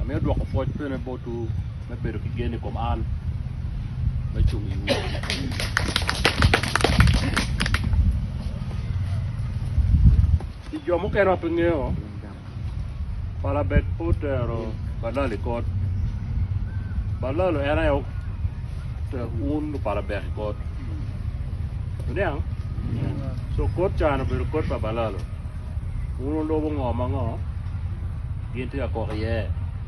Amiyo dwoko pwoc bene botwu me bedo ki gen i kom an, me cung i iwu. Pi jo mukene ma pe ngeyo, Balabek pe otero Balal i kot. Balal en aye otero un lupalabek i kot. Wuniang? Co kot ca-ni obedo kot pa Balal-lu. Wun wulubo ngo ma ngo gin tye ka kok iye,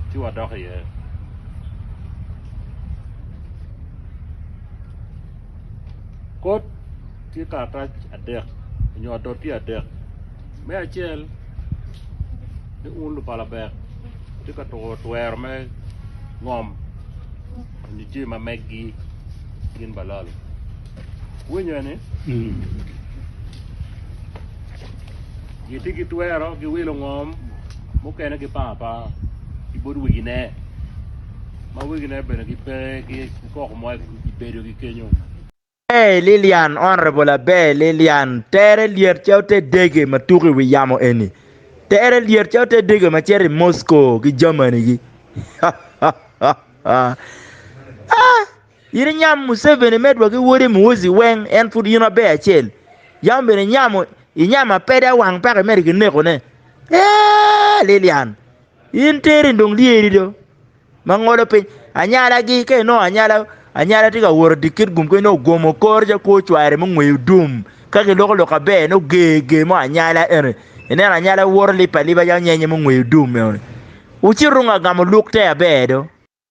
ci wadok iye. Kot tye karatac adek nyo adoti adek. Me acel ni un lupalabek wutye ka tuko twero me ngom nyo jami ma meggi gin balalo. winyo ni gitye ki twero ki wilo ngom mukene ki panga apanga ki bot wegine ma wegine bene gipe ki koko mo i bedogi kenyo. Abe Lilian, Honourable Abe Lilian, tere lyet ca ote dege ma tuko i wi yamo eni. Tere lyet ca ote dege ma cito i Moscow ki Germany-gi. In inyamo Museveni medwa ki wode Muhoozi weng en pud in aber acel yam bene inyamo inyamo apede awang paka imedo ki neko ne eeh Lilian in teri in dong lyeri do ma ngolo piny anyala gi ka inongo anyala anyala tye ka woro dikit gum kong inongo ogom okor ca kwo cware mo ngweyo dum ka ki loko lok aber inongo ger ger mo anyala eni ineno anyala woto lipa lipa calo nyenye mo ngweyo dum eni wucito wungo agamo luk te aber do.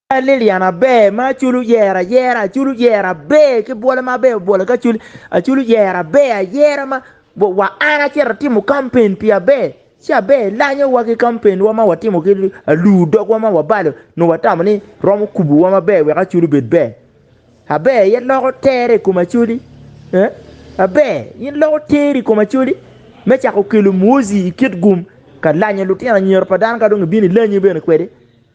Ka Lilian aber ma acul oyer ayera, acul oyer aber ki bwole ma aber obwole ki acul, acul oyer aber ayera ma wa an acito atimo campaign pi aber ci aber lanyowa ki campaign wa ma watimo ki alur dogwa ma wabalo nongo watamo ni romo kubowa maber wek acul obed ber. Aber aye loko tere i kom acoli. Eh? Aber in loko teri i kom acoli me cako kelo mwozi i kit gum ka lanyo lutino anyira pa dano ka dong ibino ilanyi bene kwede.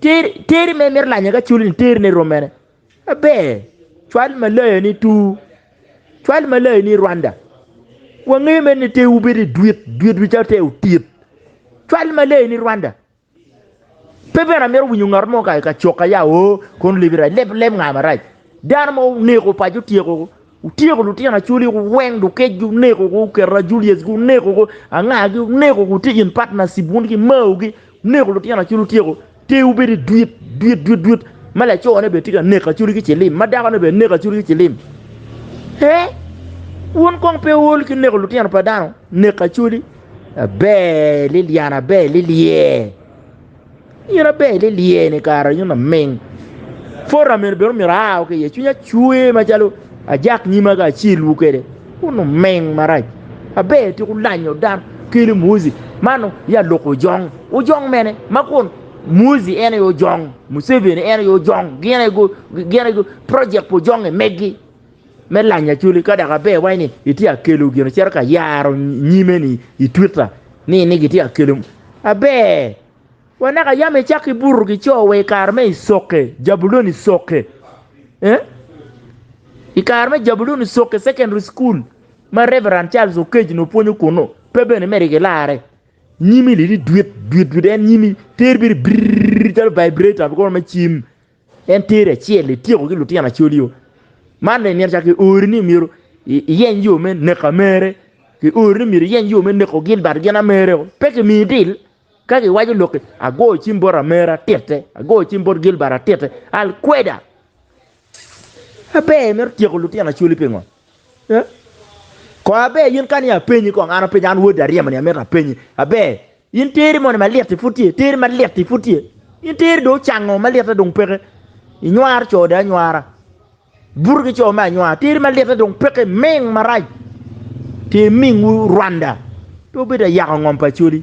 Teri ma imito lanyo ka culi ni terine rom mene? Aber, cwal malayo ni tur, cwal malayo ni Rwanda. Wangeyo mene ni terwu bedo i dwit, dwitwu calo ter otit. Cwal malayo ni Rwanda. Pe bene amito winyo ngat mo ka coka ya o kono libi rac, leb leb nga marac. Dano mo oneko paco otyeko Wutyeko lutino Acholi weng dukec gi oneko ko oketo Ajulius gi oneko ko anga gi oneko ko tye in partnership wun ki Mao gi oneko lutino Acholi wutyeko ter wu bedo idwit dwit dwit dwit ma laco ne bene tye ka neko Acholi ki cilim ma dako ne bene neko Acholi ki cilim hee wun kong pe ool ki neko lutino pa dano neko Acholi aber Liliana aber lilyee. Myero abed ni lyeni kara nyo laming. Pota mene bene myero aa ki iye, cwinya cwer macalo ajak nyima ka acilwu kwede. Wun luming marac, aber tika wulanyo dano, kelu muzi man ya loko ojong. Ojong mene ma kun muzi en aye ojong, Museveni en aye ojong, gin aye project pa ojongnge megi. me lanyo acholi ka dok aber iwaci ni itye ka kelo gin icito ka yaro nyime ni i twita ni ni gitye ka kelo aber wa naka yam icak ki buto ki co wa i kare me icoke jabulon icoke ee i kare me jabulon icoke secondary school ma Reverend Charles Oketch nongo pwonyo kunu pe bene mere ki larre nyimi ni ni dwit dwit dwit en nyimi teri biri birirr calo vibrator me cim. En teri acel ityeko ki lutino acoli o man dong imito calo ki ori ni myero iyeny yo me neko mere ki ori ni myero iyeny yo me neko gin but gin amere o pe ki miyi dil ka ki waco lokki ago cim bot amere atitte ago cim bot Gilbert atitte al kweda aber imito tyeko lutino acoli pingo. Kor aber yin kani apenyi kong an apenyi an wodi aryemo ni amito apenyi aber in teri moni malit i pud tye teri malit i pud tye in teri do ocango malit dong peke inywar co de anywara buto ki co me anywara teri malit dong peke ming marac ti ming wu Rwanda pe obedo ayako ngom pa coli.